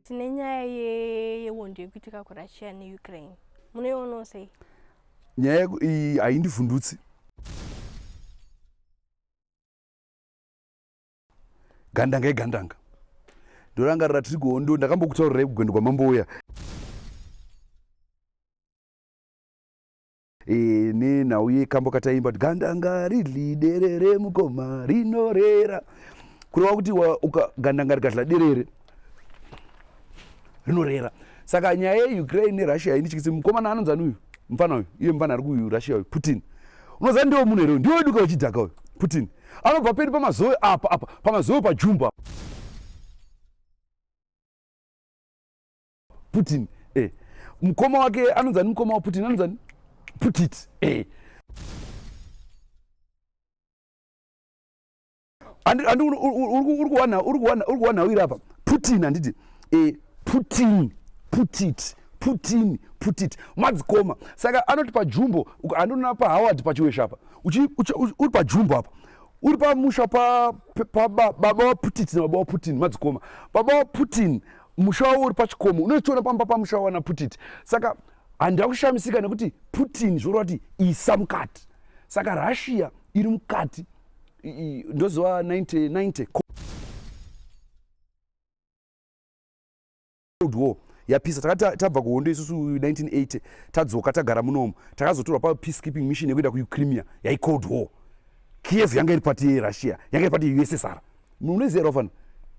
tine nyaya yehondo yekuitika kurussia neukraine munoionawo sei nyaya iyi haindivhundutsi gandanga igandanga ndorangarira tiri kuhondo ndakambokutaurirai kugwendo kwamambo uya e, nenhau yekambo kataimba kuti gandanga ridli derere mukoma rinorera kureva kuti gandanga rikadla derere rinorera saka nyaya yeukraine nerussia inityise mukomana anonzi ani uyu mfana uyu iye mfana ari kurussia uyu putin unoziva ndiwo munhu here ndiwo weduka wechidhaka uyu putin anobva peni pamazoe apa apa pamazoe pajumba apa putin eh. mukoma wake anonzi ani mukoma waputin anonzi ani putit eh. andi andi uri kuwana uri kuwana uri kuwana uiri apa putin anditi eh putin put it put in put it madzikoma saka anoti pajumbo andonona pahoward pachiwesha apa uri pajumbo apa uri pamusha pababa waputit nababa waputin madzikoma baba waputin musha wavo uri pachikomo unotoona pamba pamusha wawana putit saka handida kushamisika nekuti putin zvoreva kuti isa mukati saka russia iri mukati ndoziva 1990 cold war yapisa takati tabva kuhondo isusu 1980 tadzoka tagara munomu takazotorwa papeacekeeping mission yekuenda kuucrimea yaicold war kiev yanga iri pati yerussia yanga iri pati yeussr munoziva rofana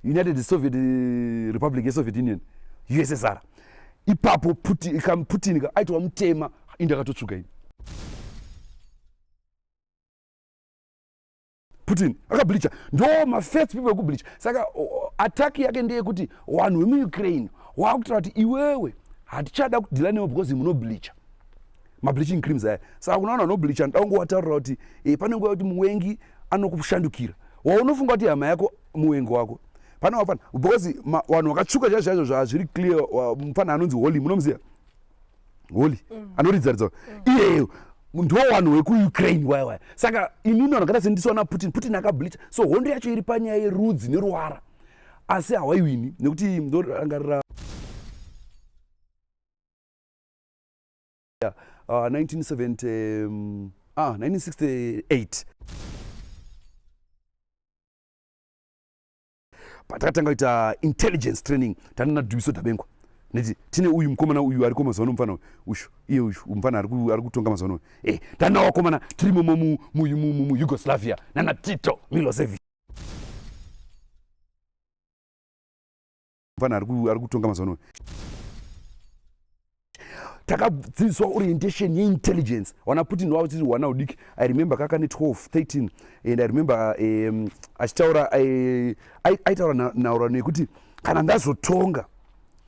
united soviet eh, republic yesoviet union ussr ipapo putin aitova mutema indi akatotsvuka ini putin akableacha ndo mafirst people ekubleacha saka attack yake ndeyekuti vanhu vemuukraine wakutaura kuti iwewe hatichada kudhila newe because munobleacha mableaching creams aya saka kuna vanhu vanobleacha nda unge wataurira kuti e, pane nguva yekuti muwengi anokushandukira waunofunga kuti hama yako muwengi wako pane wafana because vanhu vakatsvuka chaizvo chaizvo zvazviri clear mufana anonzi holy munomuziva holy mm. anoridza ridza mm. iyeyo ndo vanhu wekuukraine waya waya saka inini vanhu akaita sendisaona putin putin akablicha so hondo yacho iri panyaya yerudzi neruvara asi hawaiwini nekuti ndorangarira yeah, uh, 1970, um, ah, 1968 patakatanga kuita intelligence training tandina dubiso dabengwa neti tine uyu mukomana uyu ariko mazuva ano mufana ushu iye uyu mufana ari kutonga mazuva ano e tana wakomana tiri momo muyugoslavia nana tito milosevi mufana ari kutonga mazuva ano takadzidziswa orientation yeintelligence wana putin wavo tiri wana udiki i remember kaka ne 12 13 and i remember um, achitaura eh, aitaura nhauro nekuti kana ndazotonga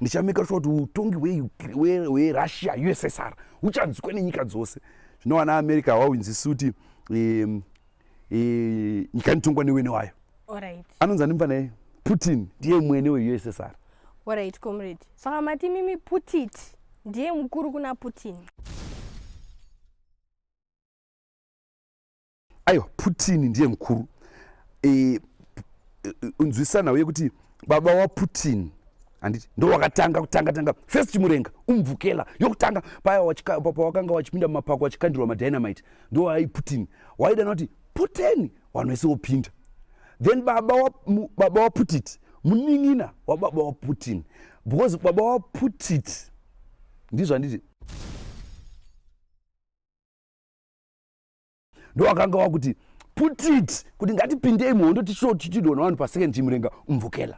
ndichameka sure kuti utongi hwerussia ussr huchanzwikwa nenyika dzose zvino wana america hwawinzisi kuti um, eh, nyika inotongwa newene wayo Alright. anonzi ani mfana yei putin ndiye mwene weussr Alright, comrade. Saka mati mimi Putit ndiye mukuru kuna Putin. aiwa putin ndiye mukuru Eh, eh, nzwisana uye kuti baba waputin handiti ndowakatanga kutanga tanga first chimurenga umvukela yokutanga paya pawakanga wachipinda mumapako wachikandirwa madynamite ndowai putin waidana kuti puteni vanhu vese wopinda then baba waputiti wa, wa munin'ina wababa waputin because baba waputiti ndizvo handiti ndowakanga wakuti put it kuti ngatipindei muhondo tichidona vanhu pasecond chimurenga umvukela